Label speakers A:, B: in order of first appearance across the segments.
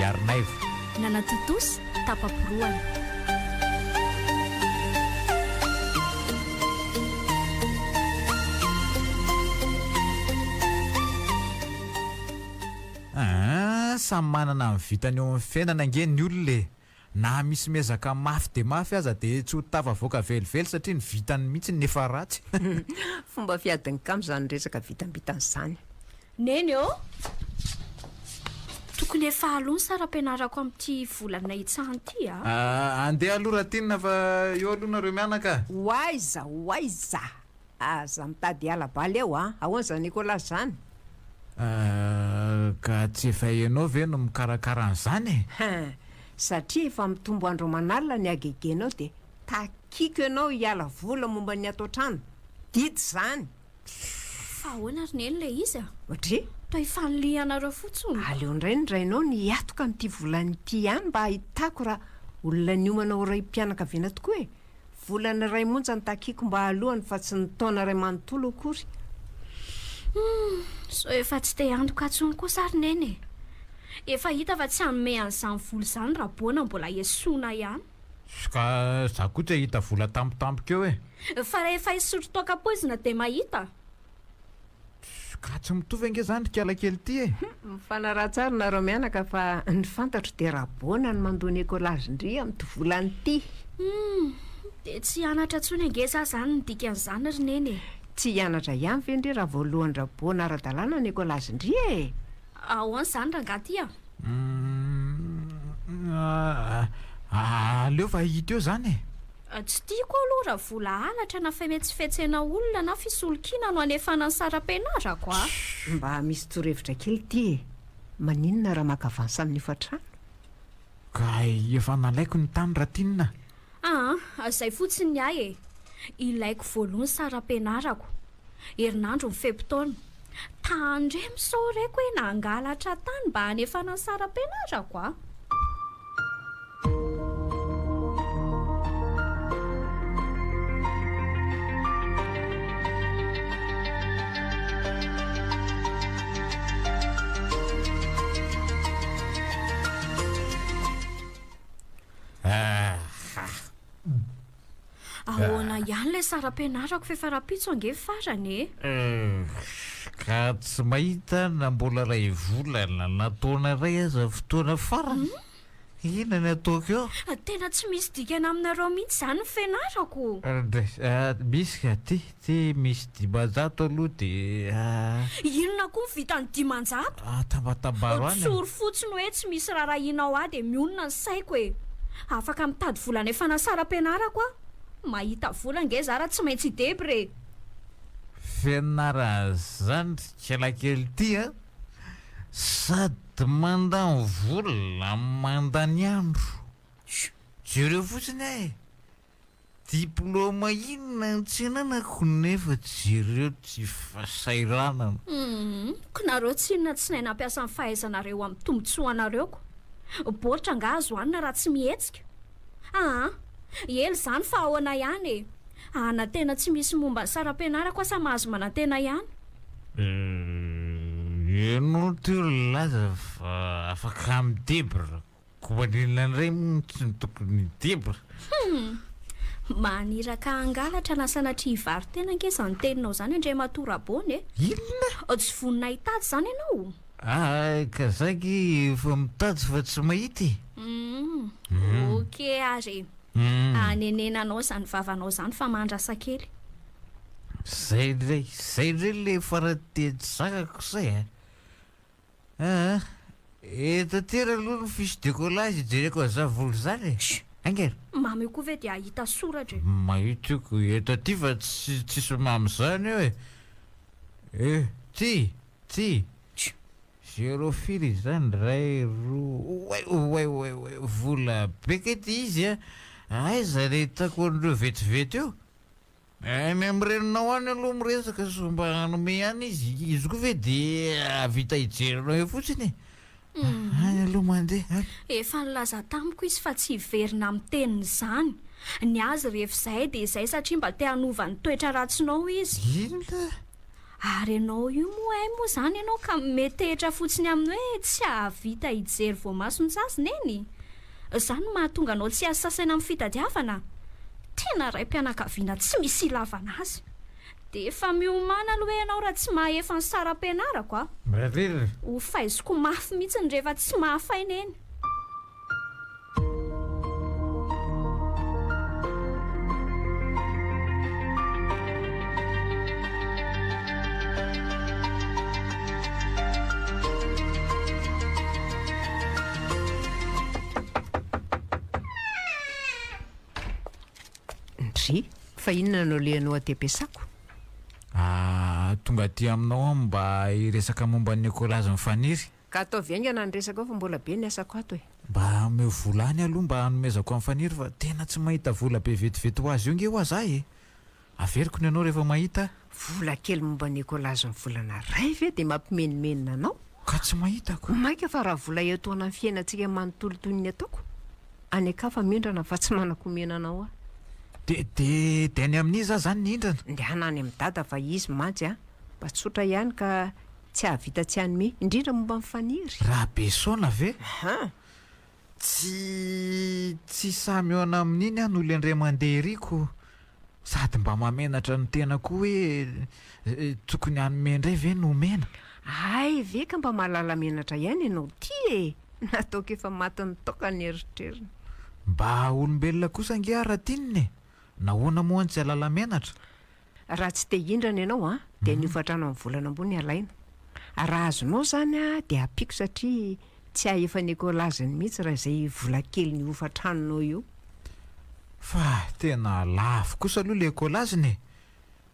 A: Yarnaivo. Nanatontosa
B: tapa-porohana.
A: Aa samy manana ny vitany eo amin'ny fiainana ange ny olona e! Na misy miezaka mafy dia mafy aza dia tsy ho tafavoaka velively satria ny vitany mihitsy no efa ratsy. Fomba
C: fiadin'ny kamo izany resaka vitambitany izany. Neny ô!
B: Tokony efa aloha ny saram-pianarako amin'ity volana hitsahina ity a! Andeha
A: aloha Ratinina fa eo aloha nareo mianaka a! Ho aiza ho
C: aiza? Aza mitady hiala baly ao an! Ahoana izany Nicolas izany?
A: Ka tsy efa ianao ve no mikarakara an'izany e? Hein! Satria
C: efa mitombo andro aman'alina ny hagegenao dia takiako ianao hiala vola momba ny ato an-trano. Didy izany! Fa
B: ahoana ry Neny ilay izy a! Ohatry? Toa
C: ifanilihanareo
B: fotsiny! Aleo indray ny rainao
C: no hiatoka an'ity volana ity ihany mba hahitako raha olona niomana ho raim-pianakaviana tokoa e! Volana iray monja no takiako mba hahalohany fa tsy ny taona iray manontolo akory. Humm,
B: sao efa tsy te handoka intsony kosa ary Neny e! Efa hita fa tsy hanome an'izany vola izany Raboana mbola esoina ihany. Ska
A: za koa tsy ahita vola tampotampoka eo e! Fa rehefa hisotro
B: toaka poizina dia mahita?
A: Ka tsy mitovy ange zany ry kiala kely ty e! Hum, mifanaraha tsara
C: nareo mianaka fa ny fantatro dia Rabona no mandoa ny écolage ndry amin'ity volana ity! Hum,
B: dia tsy hianatra intsony ange za zany ny dikan'izany ry Neny e! Tsy hianatra
C: ihany ve ndry raha voalohan-dRabona ara-dalàna ny écolage ndry e! Ahoana
B: izany rangaha ty a! Hum,
A: ah, aleo fa hita eo zany e! Tsy tiako
B: aho aloha raha vola halatra na fimetsifetsena olona na fisolokiana no hanefana ny saram-pianarako a! Tchou! Mba misy
C: torohevitra kely ity e! Maninona raha maka avance amin'ny hofantrano? Kay
A: efa nalaiko ny tany raha tinina a! Aa,
B: zay fotsiny ny ahy e! Ilaiko voaloha ny saram-pianarako. herinandro ny fe-potoana. Taha ndray misao reko hoe nangalatra tany mba hanefana ny saram-pianarako aho. Ahh. Ahoana ihany ilay sary ampianarako f'efa rahampitso ange ny farany e? Uhm,
A: ka tsy mahita na mbola iray volana na taona iray aza fotoana farany? Inona ny ataoko eo? Tena tsy misy dikany
B: aminareo mihitsy izany ny fianarako!
A: Misy ka, tia, Tsy misy dimanjato aloha dia.
B: Inona koa ny vitan'ny dimanjato? Atabatabaro any
A: e! Tsory fotsiny hoe tsy
B: misy rarahianao aho dia mionona ny saiko e! Afaka mitady vola any Fanasaram-pianarako aho. Mahita vola ange za raha tsy maintsy i Debra e! Fianarana
A: izany ry kialakely ity a! Sady mandany vola no mandany andro. Jereo fotsiny aho e! Diplôma inona no tsy ananako nefa jereo tsy fasahiranana. Humm,
B: ko nareo tsy inona tsy nay nampiasa ny fahaizanareo amin'ny tombotsoanareo ko. Baoritra angaha azo hanina raha tsy mihetsika? Aa, ela izany fa ahoana ihany e! Ana tena tsy misy momba ny saram-pianarako asa mahazo manantena ihany.
A: Ianao teo nilaza fa afaka midebra. Koa inona indray montsy no tokony hitebra? Humm! Maniraka
B: hangalatra na sanatria hivaro-tena ange izany teninao izany Andriamatoa Rabona e! Inona? Tsy
A: vonona hitady
B: izany ianao? Aa! Ka
A: zaggy efa mitady fa tsy mahita e! Humm!
B: Ok ary e! Hanenena anao izany vavanao izany fa mandrasa kely.
A: Zay indray, zay indray ilay farany teny sakako zay a! Aa! Eto an-tera aloha ny fiche de collage ijereko an'i Zavolo izany e! Shh! Enga e! Mamo io koa ve dia
B: hahita soratra e! Mahita io koa
A: eto aty fa tsy tsisy mamo izany eo e! E! Ty! Ty! Shh! Zéro firy izany iray, roa, oay! Oay! Oay! Oay! Vola be kay ty izy a! Aiza ilay hitako an'ireo vetivety io? Any am reninao any aloha miresaka sao mba hanome ihany izy, izy koa ve de ahavita hijery anao eo fotsiny e! Any aloha mandeha an! Efa nilaza
B: tamiko izy fa tsy hiverina amin'ny teniny izany. Ny azy rehefa izay dia izay satria mba te hanova ny toetra ratsinao izy. Inona?
A: Ary ianao
B: io moa hay moa izany ianao ka metehitra fotsiny amin'ny hoe tsy hahavita hijery voamaso ny sazy neny? Izany no mahatonga anao tsy hasasaina amin'ny fitadiavana? Tena raim-pianakaviana tsy misy ilavana azy! Dia efa miomàna aloha ianao raha tsy mahefa ny saram-pianarako a! Mrrrrr.
A: Hofaiziko
B: mafy mihitsy ny rehefa tsy mahafay neny.
C: fa inona no lehanao aty ampiasako? Ah,
A: tonga aty aminao aho mba hiresaka momba ny Nicolas Faniry. Ka ataovy haingana
C: ny resaka ao fa mbola be ny asako ato e. Mba ameo vola
A: any aloha mba hanomezako an'i Faniry fa tena tsy mahita vola be vetivety ho azy eo nge hoa zah e! Averiko ny anao rehefa mahita a! Vola kely momba
C: ny écolage ny volana ray ve dia mampimenomenona anao? Ka tsy mahitako!
A: Maika fa raha vola
C: iatoana ny fiainantsika manontolo toy ny ataoko any an-kafa mindrana fa tsy manankomena anao aho. De, de,
A: de any amin'iza aho zany ny hindrana? Ndehana any amin'i Dada
C: fa izy mantsy a! Mba tsotra ihany ka Tsy hahavita tsy hanome, indrindra momba ny faniry. Rabesaona
A: ve? Aha! Tsy tsy sahy mihaona amin'iny aho no lendre mandeha ery ko sady mba mahamenatra ny tena koa hoe tokony hanome indray ve no omena? Hay ve
C: ka mba mahalala menatra ihany ianao ty e! Nataoko efa matin'ny toaka ny eritreriny. Mba
A: olombelona kosa ange aho Ratinina e! Nahoana moa no tsy hahalala menatra? Raha tsy te
C: hindrana ianao an, dia ny hofatrano amin'ny volana ambony alaina. Raha azonao izany an, dia ampiako satria tsy hay efa nekolaziny mihitsy raha izay vola kelin'io hofantranonao io. Fa
A: tena lafo kosa aloha ilay ekolaziny e!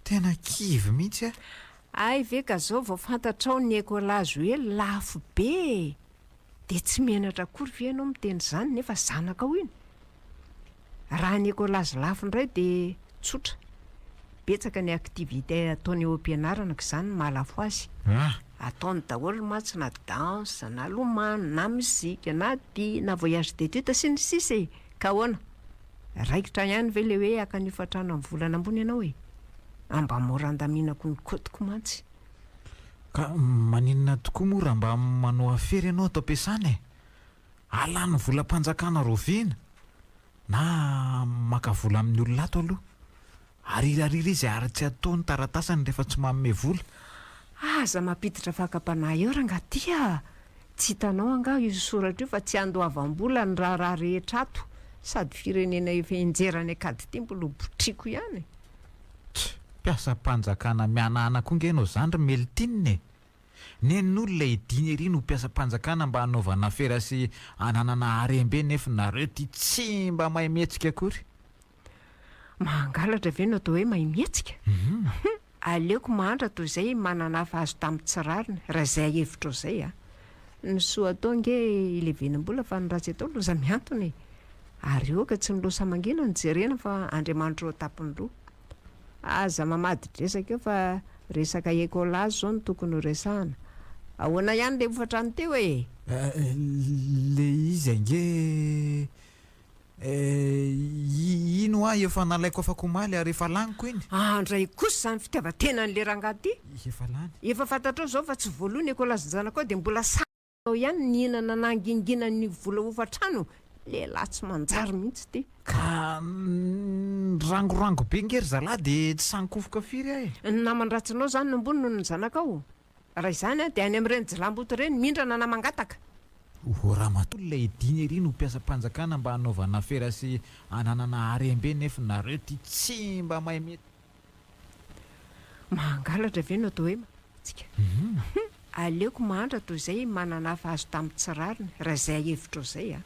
A: Tena kivy mihitsy aho. Hay ve ka
C: izao vao fantatrao ny ekolazy hoe lafo be e! Dia tsy menatra akory ve ianao miteny izany nefa zanakao iny? Raha ny Ecolage lafo indray dia tsotra, betsaka ny activités ataony eo am-pianarana ka izany no mahalafo azy. Ataony daholo mantsy na danse, na lomano, na mozika, na dihy, na voyage d'études sy ny sisa e! Ka ahoana? Raikitra ihany ve ilay hoe haka ny hofantrano amin'ny volana ambony ianao e? Amba mora andaminako ny côte-ko mantsy. Ka
A: maninona tokoa moa raha mba manao afera ianao ato am-piasana e? Alan'ny volam-panjakana rovina na maka vola amin'ny olona ato aloha. Arirarira izy ary tsy atao ny taratasiny rehefa tsy manome vola. Aza
C: mampiditra fakam-panahy eo rangaha ty a! Tsy hitanao angaha io soratra io fa tsy handoavam-bola ny raharaha rehetra ato sady firenena efa henjera any an-kady ty mbola ho botriako ihany. Tch!
A: Mpiasam-panjakana mihanahana koa nge ianao zany ry Meltine e! Nen'olona ediny ery no mpiasam-panjakana mba hanaovana afera sy hananana harem-be nef nareo ty tsy mba mahay mihetsika akory. Mahangalatra
C: ve no atao hoe mahay mihetsika? Hum aleoko mahantra toy izay manana hafa azo tamin'ny tsy rariny, raha izay hevitrao izay a. Ny soa atao ange ilevenam-bola fa ny ratsy atao loza mihantona e. Ary aoka tsy ny loza mangina no jerena fa Andriamanitra eo an-tampon'ny loha. Aza mamadidresaka eo fa resaka ecolazy zao no tokony ho resahana. Ahoana ihany le hofatrany teo e?
A: Le izy ange eh, iny hoa efa nalaiko afaka omaly ary efa laniko iny. Andray kosa izany
C: fitiavan-tenan'le rangahy ty. Efa lany. Efa
A: fantatrao izao fa
C: tsy voaloa ny ecolazin-janakao dia mbola samy. Tao ihany nihinana nangingina ny vola hofan-trano, lehilahy tsy manjary mihitsy ty. Ka
A: nirangorango be nge ry zalahy de tsy sankofoka firy aho e. Ny naman-dratsinao
C: zany no ambony noho ny zanakao? Raha izany de any amin'ireny jilamboto ireny mindrana na mangataka. Ohoh
A: ramatoa ilay dina ery no mpiasam-panjakana mba hanaovana afera sy hananana harem-be nef nareo ty tsy mba mahay mety.
C: Mahangalatra ve no atao hoe mananantsika? Aleoko mahantra toy izay manana hafa azo tamin'ny tsy rariny, raha izay hevitrao izay an!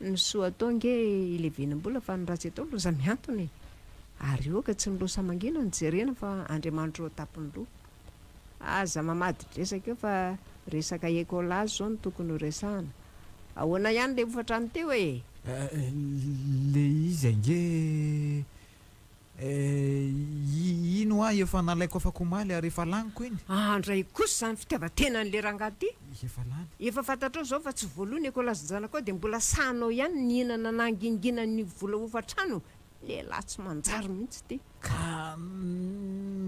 C: Ny soa atao ange ilevenam-bola fa ny ratsy atao loza mihantona e! Ary ioka tsy ny loha sa mangina no jerena fa Andriamanitra eo an-tampon'ny loha. Aza mamadi-dresaka eo fa resaka écolage izao no tokony ho resahana. Ahoana ihany ilay hofatrany teo e?
A: Ilay izy ange Eh, iny hoa efa nalaiko afaka omaly ary efa laniko iny. Aa ndray kosa izany
C: fitiavan-tenan'le rangahy ity. Efa lany. Efa
A: fantatrao izao fa
C: tsy voaloa ny ekolasin-janakao dia mbola sahanao ihany ny hihinana nanginginan ny vola hofan-trano, lehilahy tsy manjary mihitsy ity. Ka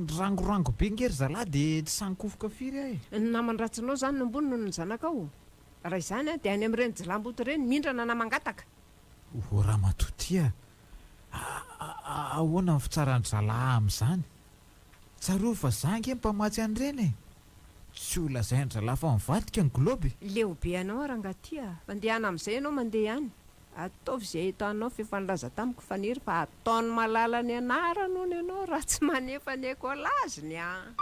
A: nirangorango be nge ry zalahy dia tsy sahy nikofoka firy aho e. Ny naman-dratsinao
C: izany no ambony noho ny zanakao? Raha izany dia any amin'ireny jilamboto ireny mindrana na mangataka. O
A: ramatoa tia a! ahoana ny fitsaran-dry zalahy amin'izany? Tsarovy fa za ange mpamatsy an'ireny e! Tsy ho lazain-dry zalahy fa mivadika ny globe. Leo be anao
C: rangahy tia a! Mandehana amin'izay ianao mandeha ihany. Ataovy izay entanao f'efa nilaza tamiko Faniry fa ataon'i Malala ny anarany hono ianao raha tsy manefa ny ecolage ny an!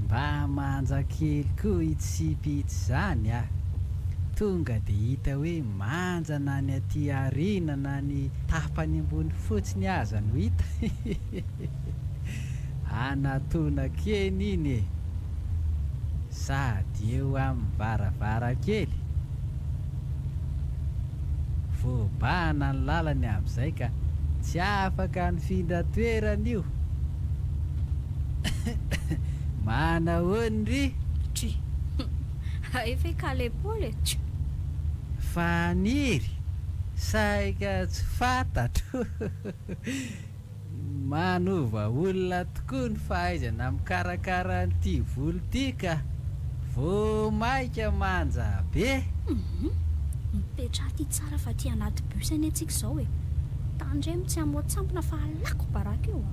D: Mba manja kely koa hitsipy itsy zany a! Tonga de hita hoe manja na ny aty aoriana na ny tapany ambony fotsiny aza no hita. Anatona keny iny e! Sady eo amin'ny varavarankely. Voabahana ny lalany amin'izay ka tsy afaka nifindra toerana io. Manahoan ry. Try.
B: Hay ve ka le Paul e! Tch! Faniry,
D: saika tsy fantatro. Manova olona tokoa ny fahaizana mikarakara an'ity volo ity ka! Vao maika manja be! Humm!
B: Mipetraha aty tsara fa aty anaty bus anie tsika izao e! Tandremo tsy hamoa tsampona fa halako baraka eo a!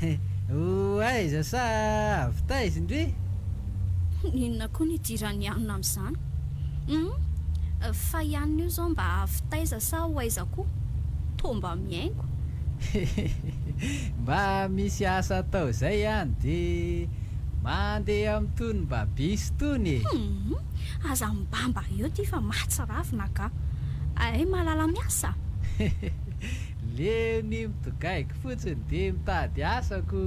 D: He, ho aiza sa avy taiza indry?
B: Inona koa ny idiran'ny anona amin'izany? Humm, fa i anona io izao mba avy taiza sa ho aiza koa? Toa mba mihaingo. Hehehehe, mba
D: misy asa atao izay an, dia mandeha amin'itony mba bus itony e! Humm, aza
B: mibamba eo ity fa mahatsiravina angaha. Hay malala miasa? Hehehehe,
D: Le ny mtgaik fotsiny de mitady asa ko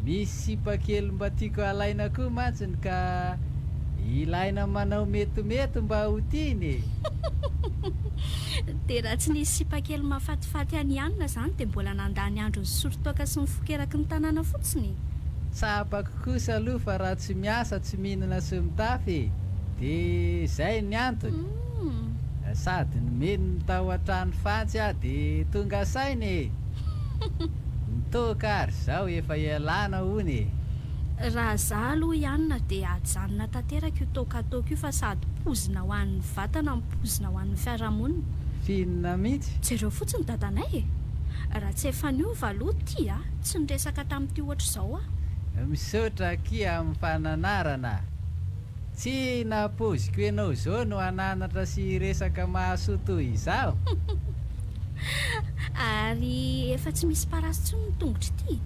D: misy sipa kely mba tiako alaina ko mantsiny ka ilaina manao metimety mba ho tiany e!
B: De raha tsy nisy sipa kely mahafatifaty an'i Anna zany de mbola nandà ny andro nisolo toaka sy nifoko eraky ny tanàna fotsiny? Tsapako
D: kosa aloha fa raha tsy miasa tsy mihinana sy mitafy de zay ny antony. Humm! Sady nomeny ny tao an-trano fatsy aho dia tonga saina e! Nitoka ary zao efa ialana hono e! Raha
B: za aloha i Anna dia ajanona tanteraka io toaka ataoko io fa sady pozina ho an'ny vatana no pozina ho an'ny fiarahamonina. Finina
D: mihitsy! Jereo fotsiny dadanay
B: e! Raha tsy efa niova aloha ty a! Tsy niresaka tamin'ity ohatr'izao aho. Misaotra akia
D: amin'ny fananarana. Tsy nahapoiziko ianao zao no hananatra sy hiresaka mahasoa toy izaho.
B: Ary efa tsy misy parasy tsony ny tongotro ity.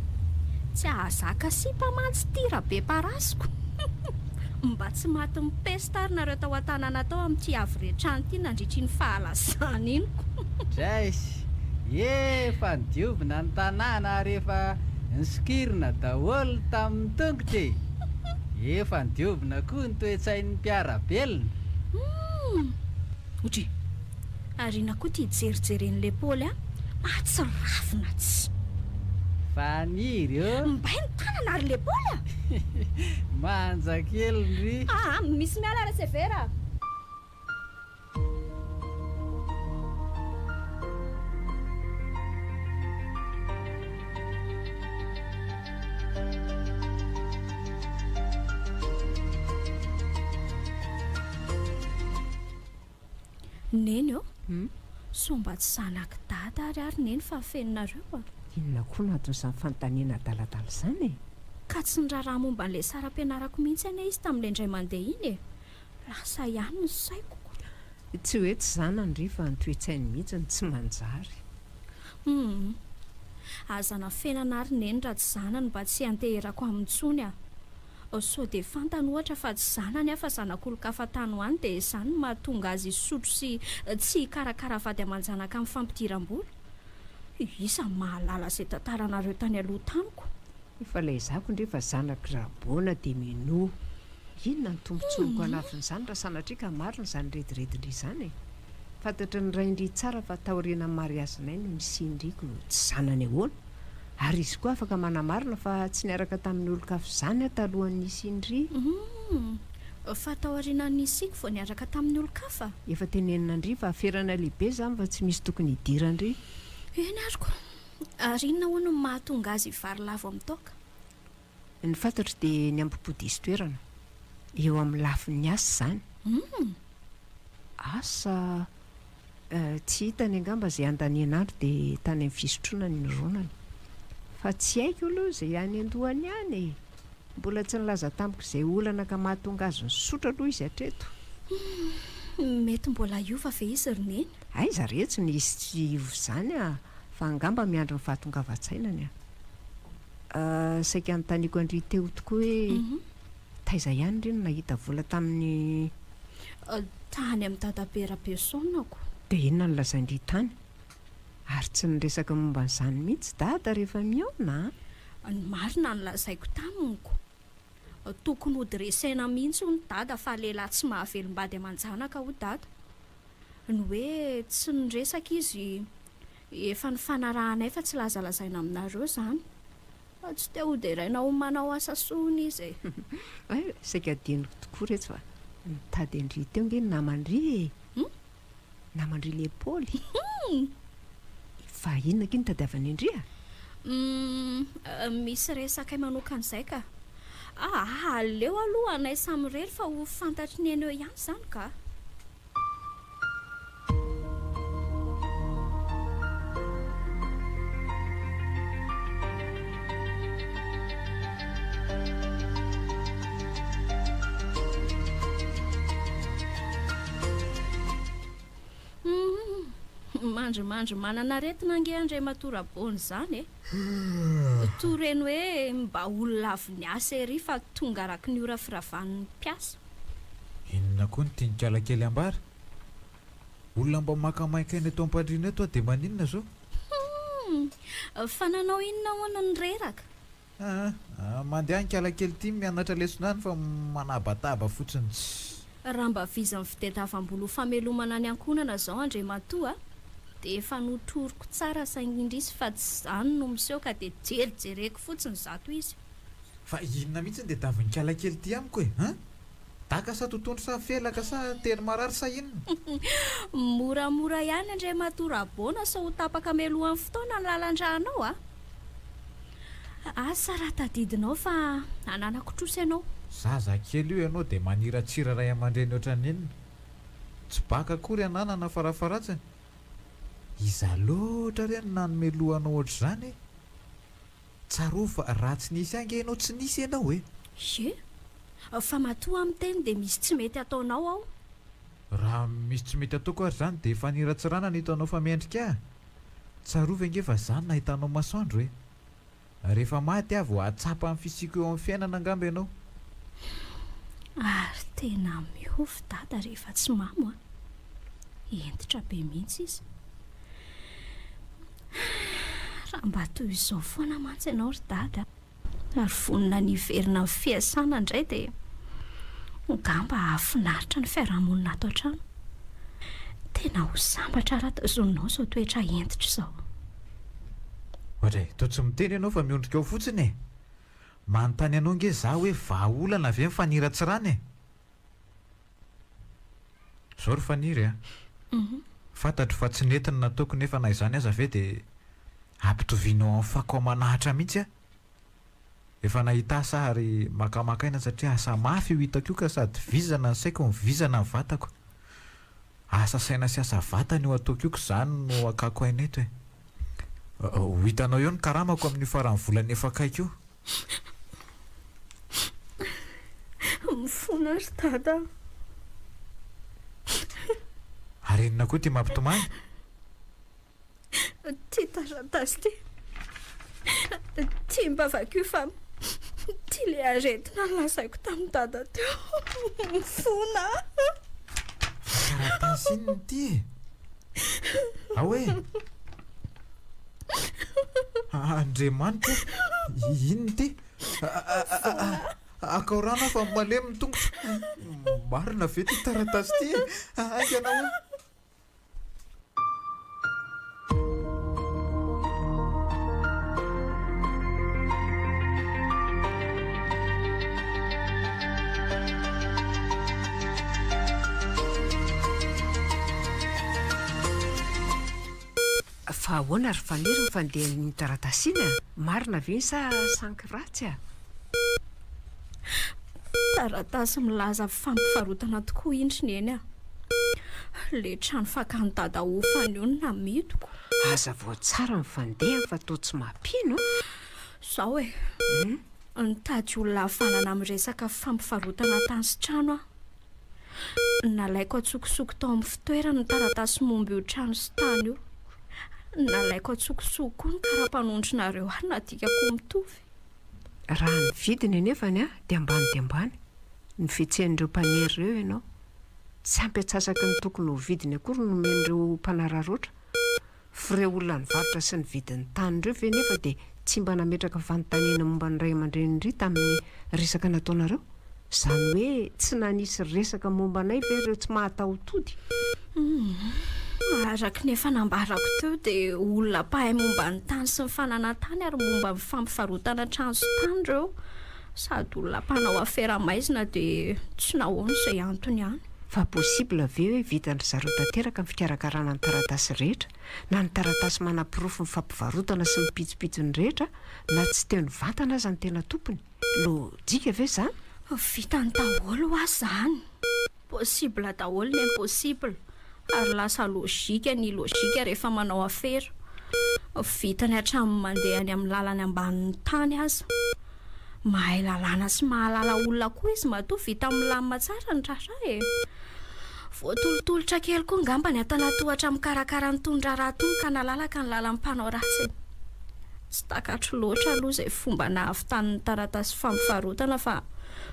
B: Tsy ahazaka sipa mantsy ty rabe parasiko. Mba tsy maty mipesta ary nareo tao an-tanàna tao amin'ity havorian-trano ity nandritra iny fahalazana iny ko. Drais,
D: efa nodiovina ny tanàna ary efa nisokirina daholo tamin'ny tongotra e! Efa nidiovina koa ny toe-tsain'ny mpiara-belona. Humm!
B: Odry! Aoriana koa ity jerijeren'ilay Paoly an! Ahatsiravina tsy.
D: Faniry ô! Mbay ny tanana ry
B: le Paoly a! Manja
D: kely ry. Aa! Misy miala ry
B: Severa a! Neny ô, sao mba tsy zanak'i Dada ary ary Neny
C: fa
B: feno
C: nareo
B: a!
C: Inona
B: koa no
C: anton'izany
B: fanontaniana adaladala
C: izany
B: e?
C: Ka
B: tsy niraharaha momba an'ilay saram-pianarako mihitsy anie izy tamin'ilay indray mandeha iny e! Lasa ihany ny saiko. Tsy hoe
C: tsy zanany ry fa ny toe-tsainy mihitsy no tsy manjary. Humm.
B: Aza anafenana ary neny raha tsy zanany mba tsy hianteherako aminy intsony a. Sao dia fantany ohatra fa tsy zanany aho fa zanak'olon-kafa tany ho any dia izany no mahatonga azy hisotro sy tsy hikarakara vady aman-janaka amin'ny fampidiram-bola. Iza no mahalala izay tantaranareo tany aloha tamiko. Efa laizako
C: ndry fa zanak'i Rabona dia minoa. Inona no tombotsoanko hanafin'izany raha sanatria ka marina izany rediredindry izany e? Fantatry ny raindry tsara fa taorianan'ny mariazinay no nisian'driko tsy zanany ahoana? Ary izy koa afaka manamarina fa tsy niaraka tamin'ny olon-kafa izany aho talohan'ny nisian'dry. Humm!
B: Fa taorianan'ny nisiako vao niaraka tamin'ny olon-kafa? Efa teneninandry
C: fa aferana lehibe izany fa tsy misy tokony hidiran-dry. Eny ary
B: koa. Ary inona hono no mahatonga azy vary lavo amin'ny toaka? Ny
C: fantatro dia ny ambopo diso toerana. Eo amin'ny lafin'ny asa izany. Humm! Asa? Eh, tsy hitany angamba izay andaniana andro dia tany amin'ny fisotroana no nironany. Fa tsy haiko aloha izay any an-dohany any e! Mbola tsy nilaza tamiko izay olana ka mahatonga azy nisotro aloha izy hatreto. Humm!
B: Mety mbola hiova ve izy ry Neny? Aiza re tsy
C: nisy tsy hiova izany a! fa angamba miandry ny fahatongavan-tsainany a! saika notaniako an-dry Teo tokoa hoe taiza ihany ry no nahita vola tamin'ny.
B: Tany amin'i Dadabe Rabeusonako. Dia inona no
C: lazain-dry tany? Ary tsy niresaka momba an'izany mihitsy Dada rehefa mihaona a! Ny marina
B: no lazaiko tamiko, tokony ho dresser-na mihitsy hono Dada fa lehilahy tsy mahavelom-bady aman-janaka hoy Dada. ny hoe tsy miresaka izy efa nifanarahanay fa tsy lazalazaina aminareo izany fa tsy te ho deraina ho manao asa soa hono izy e saika adinoko
C: tokoa reto fa nitady an-dry teo nge ny naman-dry e hmm? naman-dry lepaoly hmm. fa inona ki nitadiavany an-dry a hmm, eh,
B: misy resakay manokana izay ka Aa aleo aloha anay samy irery fa ho fantatry ny eny eo ihany izany kah! Humm! mandrimandry manana aretina ange Andriamatoa Rabôny izany e! Toa reny hoe mba olona avy niasa ery fa tonga araky ny ora firavan'ny mpiasa. Inona
A: koa ny tian'ikala kely ambara? Olona mba maka main-kaina eto am-pandriana eto aho dia maninona izao? Humm! Fa
B: nanao inona hono ny reraka? Aa!
A: Mandeha any ikala kely ity mianatra lesona any fa manabataba fotsiny. Raha mba
B: vizan'ny fitadiavam-bola ho famelomana ny ankohonana izao Andriamatoa a, dia efa notoriko tsara saingy indrisy fa tsy izany no miseho ka dia jery jereko fotsiny izato izy. Fa inona
A: mihitsy ny tediavin'ikalahy kely ity amiko e? An! Daka sa totohondry sa felaka sa tery marary sa inona?
B: Moramora ihany Andriamatoa Rabona sao ho tapaka melohan'ny fotoana ny lalan-drà anao a! Asa raha tadidinao fa ananako trosa ianao. Zaza kely io
A: ianao dia maniratsira ray aman-dreny ohatran'ny inona? Tsy baka akory ananana farafaharatsiny? Iza loatra re no nanome loha anao ohatr'izany e? Tsarovy fa raha tsy nisy ahy ange ianao tsy nisy ianao e! Ye!
B: Fa matoa miteny dia misy tsy mety ataonao ao? Raha
A: misy tsy mety ataoko ary izany dia faniratsirana no hitanao fa mendrika ahy? Tsarovy ange fa zany nahitanao masoandro e! Rehefa maty aho vao hahatsapa ny fisiako eo amin'ny fiainana angamba ianao. Ary
B: tena mihovy dada rehefa tsy mamo a! Hentitra be mihitsy izy. Raha mba toy izao foana mantsy ianao ry dada a! ary vonona ny hiverina amin'ny fiasana indray dia ngamba hahafinaritra ny fiarahamonina ato an-trano. Tena ho sambatra raha tazoninao izao toetra hentitra izao. Ohatra
A: e, toa tsy miteny ianao fa miondrika ao fotsiny e! Manontany anao ange izaho hoe vahaolana ve ny faniratsirana e? Zao ry Faniry a! Fantatro fa tsy nety ny nataoko nefa na izany aza ve dia ampitovianao amin'ny fako aman'Ahitra mihitsy aho? Efa nahita asa aho ary makamaka aina satria asa mafy io hitako io ka sady vizana ny saiko no vizana ny vatako. Asa saina sy asa vatana io ataoko io ka izany no hakako aina eto e! Ho hitanao eo ny karamako amin'io faran'ny volana efa akaiky io.
B: Mifona ry Dada a!
A: Ary inona koa ity mampitomany?
B: Ity taratasy ity. Ity mba vakio fa ity ilay aretina lazaiko tamin'i Dada teo. Mifona a!
A: Taratasy inona ity e? Ao e! Andriamanitra ô! Inona ity? Akao rano aho fa malemy ny tongotro. Marina ve ity taratasy ity e? Haingana hono.
C: Fa ahoana ry Faniry ny fandehan'iny taratasy iny a? Marina ve iny sa sanky ratsy a?
B: Taratasy milaza fampivarotana tokoa indry Neny a! Le trano fakan'i Dada hofany io no namidiko. Hazavao
C: tsara ny fandehany fa toa tsy mampino a! Zao
B: e! Nitady olona havanana amin'ny resaka fampivarotana tany sy trano aho. Nalaiko an-tsokosoko tao amin'ny fitoerany ny taratasy momba io trano sy tany io. Nalaiko an-tsokosoko koa ny kara-panondronareo ary nadikako ho mitovy. Raha
C: ny vidiny anefany dia ambany dia ambany. Nifetsehan'ireo mpaniry ireo ianao. Tsy ampy antsasaky ny tokony ho vidiny akory no nomen'ireo mpanararaotra. F'ireo olona nivarotra sy nividy ny tany ireo ve nefa dia tsy mba nametraka fanontaniana momba ny ray aman-drenin-dry tamin'ny resaka nataonareo? Izany hoe tsy nanisy resaka momba anay ve ireo tsy mahatahotody? Humm.
B: Araka ny efa nambarako teo dia olona mpahay momba ny tany sy ny fananan-tany ary momba ny fampivarotana trano sy tany ireo. Sady olona mpanao afera maizina dia tsy nahoana izay antony ihany. Fa possible
C: ve hoe vitan-dry zareo tanteraka ny fikarakarana ny taratasy rehetra na ny taratasy manaporofo ny fampivarotana sy ny pitsopitsony rehetra na tsy teo nivantana aza ny tena tompony? Lojika ve izany? Vitany
B: daholo ho'a izany. Possible daholo ny impossible ary lasa logique ny logique rehefa manao afera. Vitany hatramin'ny mandeha any amin'ny lalany ambanin'ny tany aza. Mahay lalàna sy mahalala olona koa izy matoa vita milamina tsara ny raharaha e! Voatolotolotra kely koa ngamba ny antanatohatra mikarakara an'itony raharaha itony ka nalalaka ny lalan'ny mpanao ratsy e! Tsy takatro loatra aloha izay fomba nahavitany ny taratasy fampivarotana fa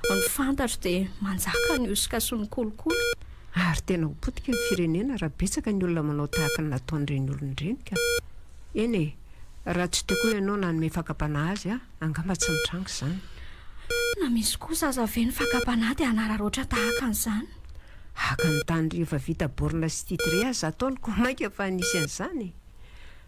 B: ny fantatro dia manjaka ny hosoka sy ny kolikoly. Ary tena ho
C: potika ny firenena raha betsaka ny olona manao tahaka ny nataon'ireny olona ireny ka! Eny e! Raha tsy teo koa ianao nanome fakam-panahy azy aho, angamba tsy nitranga izany. Na
B: misy kosa aza ve ny fakam-panahy dia hanararaotra tahaka an'izany? Haka ny
C: tany rehefa vita borne sy titre aza ataony koa mainka fa nisy an'izany e!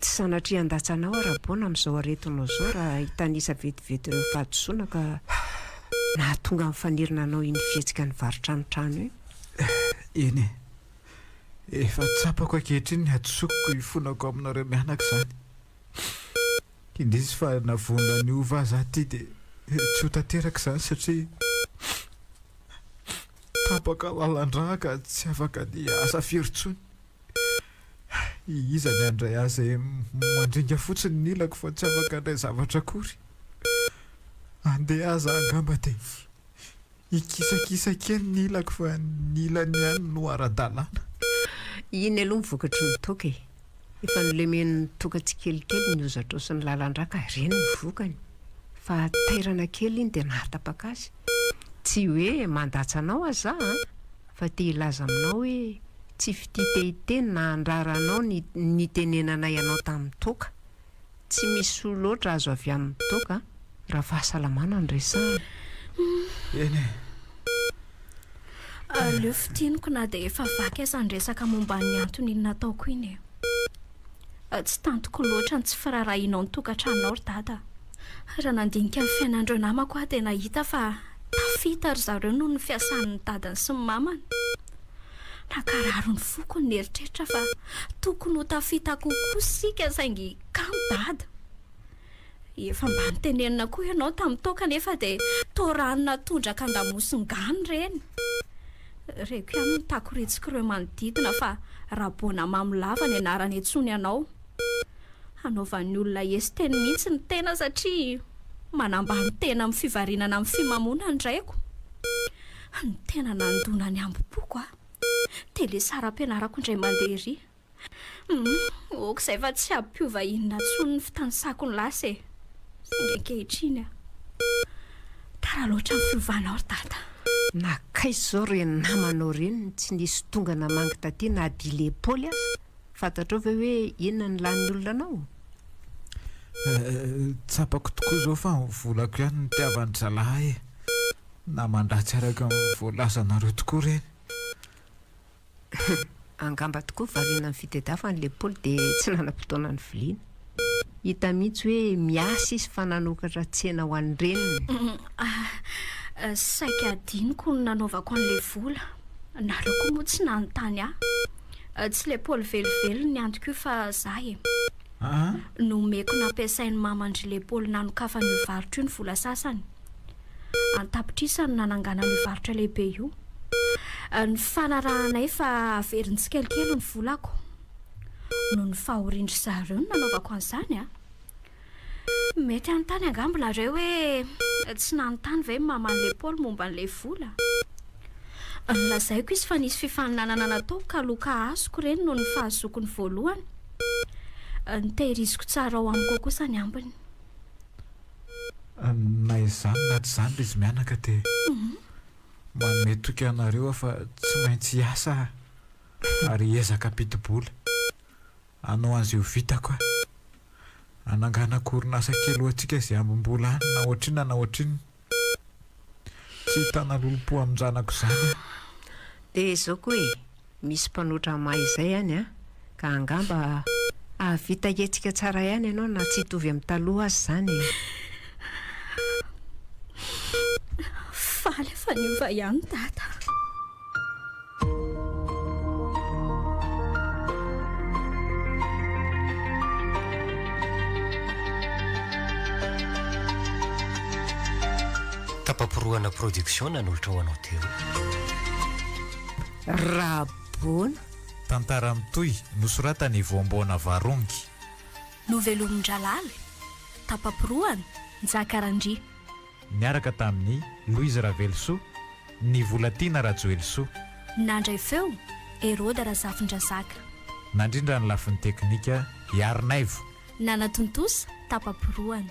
C: Tsy sanatria handatsanao aho Rabon amin'izao aretinao izao raha hitanisa vetivety ny fahadisoana ka nahatonga ny fanirina hanao iny fihetsika nivarotra tranotrano iny. Eny e!
A: Efa tsapako ankehitriny ny hadisoako koa ifonako aminareo mianaka izany. Indrisy fa na vonona ny hova aza aho ity dia tsy ho tanteraka izany satria tapaka lalandrà ka tsy afaka ny hiasa firy intsony. Iza ny handray ahy izay mandringa fotsiny ny ilako fa tsy afaka handray zavatra akory? Andeha aza angamba dia hikisakisa kely ny ilako fa ny ilany ihany no ara-dalàna. Iny
C: aloha ny vokatry ny toaka e! Efa nolemen'ny toaka tsikelikely ny hozatro sy ny lalan-drà ka ireny no vokany. Fa tairana kely iny dia nahatapaka azy. Tsy hoe mandatsa anao aza aho an! fa te hilaza aminao hoe tsy fitia te hiteny na handrara anao ny nitenenanay anao tamin'ny toaka. Tsy misy soa loatra azo avy amin'ny toaka raha fahasalamana no resahana.
A: Eny e.
B: Aleo fintiniko na dia efa vaky aza ny resaka momba ny antony nataoko iny e. Tsy tantiko loatra ny tsy firaharahianao ny tokantranonao ry Dada. Raha nandinika ny fiainan'ireo namako aho dia nahita fa tafita ry zareo noho ny fiasan'ny dadany sy ny mamany. Nankarary ny foko ny nieritreritra fa tokony ho tafita kokoa isika saingy kamo Dada. Efa mba notenenina koa ianao tamin'ny toaka anefa dia toa rano natondraka an-damosin-gano ireny. Reko ihany ny takoritsiko ireo manodidina fa Raboana Mamolava ny anarany antsoiny anao. Hanaovan'ny olona hes teny mihitsy ny tena satria manambany tena amin'ny fivarinana amin'ny fimamoana ny raiko. Ny tena nandona ny hambom-poko aho. Tele saram-pianarako indray mandeha ery. Humm, ok izay fa tsy hampiova inona intsony ny fitanisako ny lasa e. Saingy ankehitriny an, tara loatra ny fiovanao ry dada. Nakaiza
C: izao re ny namanao reny no tsy nisy tonga namangy taty na dia ilay Paoly aza? Fantatrao ve hoe inona ny lanin'ny olona anao?
A: Tsapako tokoa izao fa ny volako ihany no nitiavan'ny zalahy e. Naman-dratsy araka ny voalazanareo tokoa ireny. Hum,
C: angamba tokoa variana ny fitedavany le Paoly de tsy nanam-potoana niviliana. Hita mihitsy hoe miasa izy fa nanokatra tsena ho an'ny reniny. Hum, ah,
B: saika adinoko ny nanaovako an'le vola. Nareo koa moa tsy nanontany ahy. Tsy le Paoly velively ny antoko io fa za e. Nomeko nampiasain'i maman-dry le Paoly nanokafana io varotra io ny vola sasany. an-tapitrisany nananganana io varotra lehibe io. Nifanarahanay fa haveriny tsikelikely ny volako. Noho ny fahorian-dry zareo no nanaovako an'izany. Mety hanontany angamba ianareo hoe tsy nanontany ve ny maman'ilay Paoly momba an'ilay vola? Nolazaiko izy fa nisy fifaninanana nataoko ka loka azoko ireny noho ny fahazoako ny voalohany. Ny tehiriziko tsara ao amiko ao kosa ny ambiny.
A: Na izany na tsy izany ry zmianaka dia manome toky anareo aho fa tsy maintsy hiasa aho ary hiezaka hampidi-bola. Hanao an'izay ho vitako aho. Hananganako orinasa kely ho antsika izay hambom-bola any na ohatrinona na ohatrinona. Tsy hitana lolompo amin-janako izany aho. Dia
C: izao koa e! Misy mpanoatra mahay izay any an! Ka angamba hahavita hihetsika tsara ihany ianao na tsy hitovy amin'ny taloha aza izany e!
B: Faly fa niova ihany Dada.
E: Tapaporohana Production nanolotra ho anao teo.
C: Raboana. Tantara
A: mitohy nosoratan'i Voamboana Varongy.
B: Novelomin-dRalaly, tapa-porohana, Njaka Randria. Niaraka
A: tamin'i Louise Ravelosoa, Nivolatiana Rajoelisoa. Nandray
B: feo, Heroda Razafindrazaka. Nandrindra
A: ny lafiny teknika, Iharinaivo. Nanatontosa, tapa-porohana.